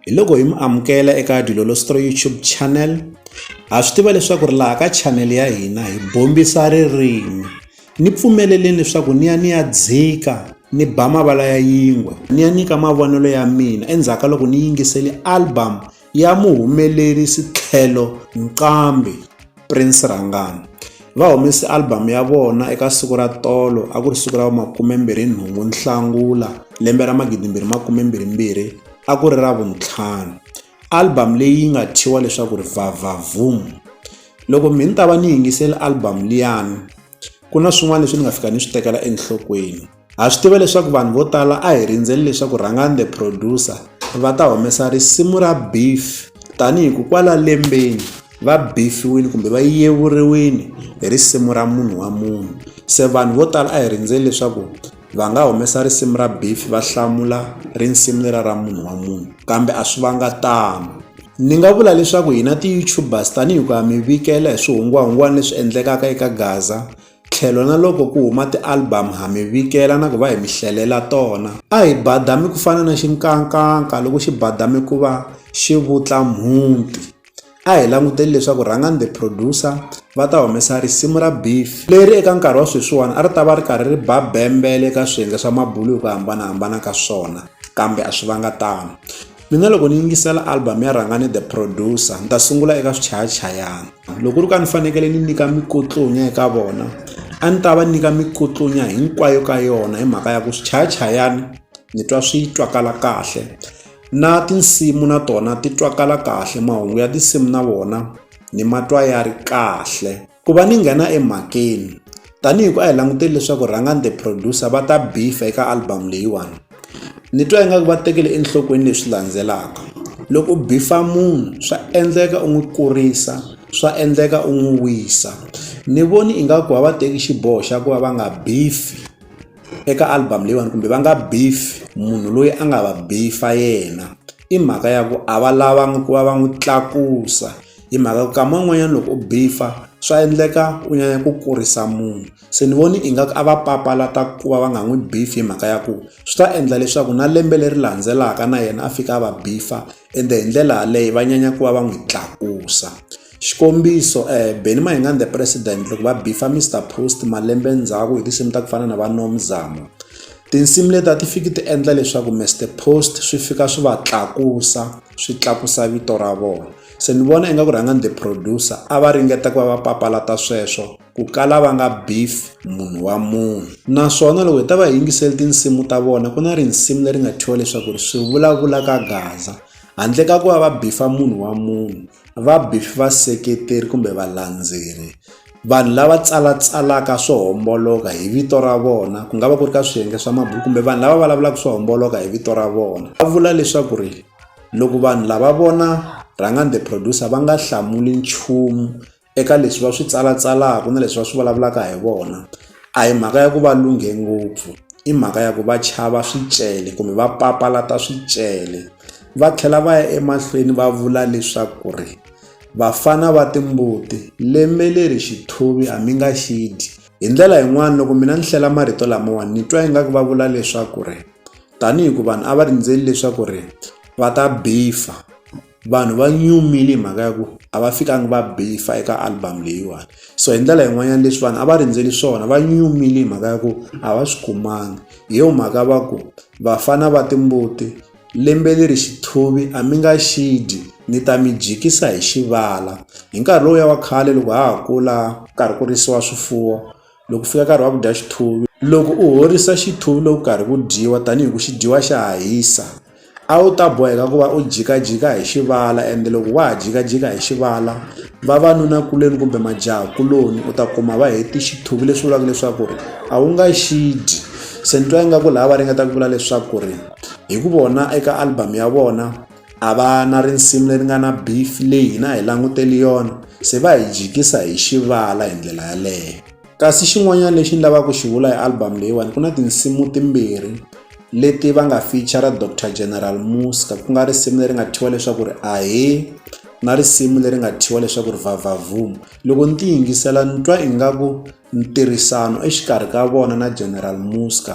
hi loko hi mi amukela eka dilolostro youtube channel ha swi tiva leswaku ri laha ka channel ya hina hi bombisa ririmi ni pfumeleleni leswaku ni ya ni ya dzika ni ba mavala ya yingwe ni ya nyika mavonelo ya mina endzhaku ka loko ni yingiseli album ya muhumelerisi tlhelo nqambi prince rangani va humese albhamu ya vona eka siku ra tolo a ku ri siku ra vumakumembirhi nhungu nhlangula lembe ra magidimbirhi makumembirhimbirhi a ku ri ra vuntlhanu album leyi nga thyiwa leswaku ri vavavum loko mi ni ta va ni yingiseli album liyani ku na swin'wana leswi ni nga fika ni swi tekela enhlokweni ha swi tiva leswaku vanhu vo tala a hi rindzeli leswaku rhangani the producer va ta humesa risimu ra beef tanihi ku kwala lembeni va bifiwile kumbe va yevuriwile hi risimu ra munhu wa munhu se vanhu vo tala a hi rindzeli leswaku Va nga humesa risimu ra beef va hlamula risimu lera ra munhu wa munhu kambe a swi vanga tano ni nga vula leswaku hina ti-youtubers tanihi ku ya mi vikela hi swihungwahungwana leswi endlekaka eka gaza tlhelo na loko ku huma ti-album ha mi vikela na ku va hi mi hlelela tona a hi badami ku fana na xinkankanka loko xi badame ku va xi vutla mhunti a hi languteli leswaku rhangani the producer va ta humesa risimu ra beef leri eka nkarhi wa sweswiwani a ri ta va ri karhi ri ba bembele eka swiyenge swa mabulu hi ku hambanahambana ka swona kambe a swi vanga tano mina loko ni yingisela album ya rhangani the producer ni ta sungula eka swichayachayana loko ri ka ni fanekele ni nyika mikotlonya eka vona a ni ta va nyika mikotlonya hinkwayo ka yona hi mhaka ya ku swichayachayana ni twa swi twakala kahle Na tinsimu na tona ti twakala kahle mahungu ya tinsimu na wona ni matwa ya ri kahle ku va ni nghena emhakeni tanihi ku a hi languteli leswaku rhangani the producer va ta bifa eka album leyiwani ni twa ingaku va tekele enhlokweni leswi landzelaka loko u bifa munhu swa endleka u n'wi kurisa swa endleka u n'wi wisa ni voni ingaku va va teki xiboho xa ku va va nga bifi. eka album leyiwani kumbe va nga beef munhu loyi a nga va beef-a yena i mhaka ya ku a va lavanga ku va va n'wi tlakusa hi mhaka ku kama wun'wanyana loko u beef-a swa endleka u nyanya ku kurisa munhu se ni voni ingaku a va papalata ku va va nga n'wi beef hi mhaka ya ku swi ta endla leswaku na lembe leri landzelaka na yena a fika a va beef-a ende hi ndlela yaleyo va nyanya ku va va n'wi tlakusa. Xikombiso Benny Mayengani the president loko va beef-a Mister Post malembe ndzhaku hi tinsimu ta ku fana na va Nomzamo. Tinsimu leti a ti fiki ti endla leswaku Mister Post swi fika swi va tlakusa, swi tlakusa vito ra vona. Se ni vona ingaku rhangani the producer a va ringeta ku va va papalata sweswo, ku kala va nga beef munhu wa munhu. Naswona loko hi ta va hi yingisele tinsimu ta vona ku na risimu leri nga thyiwa leswaku ri swi vulavula ka gaza, handle ka ku va va beef-a munhu wa munhu. va beef vaseketeri kumbe valendzeleri vanhu lava tsalatsalaka swo homboloka hi vito ra vona ku nga va ku ri ka swiyenge swa mabulo kumbe vanhu lava vulavulaka swo homboloka hi vito ra vona va vula leswaku ri loko vanhu lava vona rhangani the producer va nga hlamuli nchumu eka leswi va swi tsalatsalaka na leswi va swi vulavulaka hi vona a hi mhaka ya ku va lunghe ngopfu i mhaka ya ku va chava swicele kumbe va papalata swicele. Va tlhela va ya emahlweni va vula leswaku ri, Vafana va timbuti, lembe leri xithuvi a mi nga xi dyi. Hi ndlela yin'wana, loko mina ni hlela marito lamawani ni twa ingaku va vula leswaku ri, Tanihi ku vanhu a va rindzeli leswaku ri va ta bifa, vanhu va nyumile hi mhaka ya ku a va fikangi va bifa eka album leyiwani. So hi ndlela yin'wanyana leswi vanhu a va rindzele swona va nyumile hi mhaka ya ku a va swi kumangi. Hi yona mhaka va ku, Vafana va timbuti. Lembe leri xithuvi a mi nga xi dyi, ni ta mi dyikisa hi xivala. Hi nkarhi lowuya wa khale loko ha ha kula ku karhi ku risiwa swifuwo, loko ku fika nkarhi wa ku dya xithuvi, loko u horisa xithuvi loko ku karhi ku dyiwa tanihi ku xi dyiwa xa ha hisa, a wu ta boheka ku va u jikajika hi xivala ende loko wa ha jikajika hi xivala, vavanunakuloni kumbe majahakuloni u ta kuma va heti xithuvi leswi vulaka leswaku ri a wu nga xi dyi. Se ni twa ingaku laha va ringeta ku vula leswaku ri. Hi ku vona eka album ya vona a va na risimu leri nga na beef leyi hina hi languteli yona se va hi jikisa hi xivala hi ndlela yaleyo kasi xin'wanyana lexi ni lavaka ku xi vula hi album leyiwani ku na tinsimu timbirhi leti va nga feature dr general muska ku nga risimu leri nga thyiwa leswaku ri ahe na risimu leri nga thyiwa leswaku ri vavavum loko ni ti yingisela ni twa ingaku ntirhisano exikarhi ka vona na general muska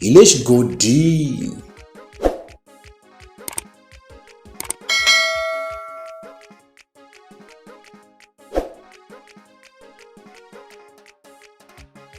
hi le xigodini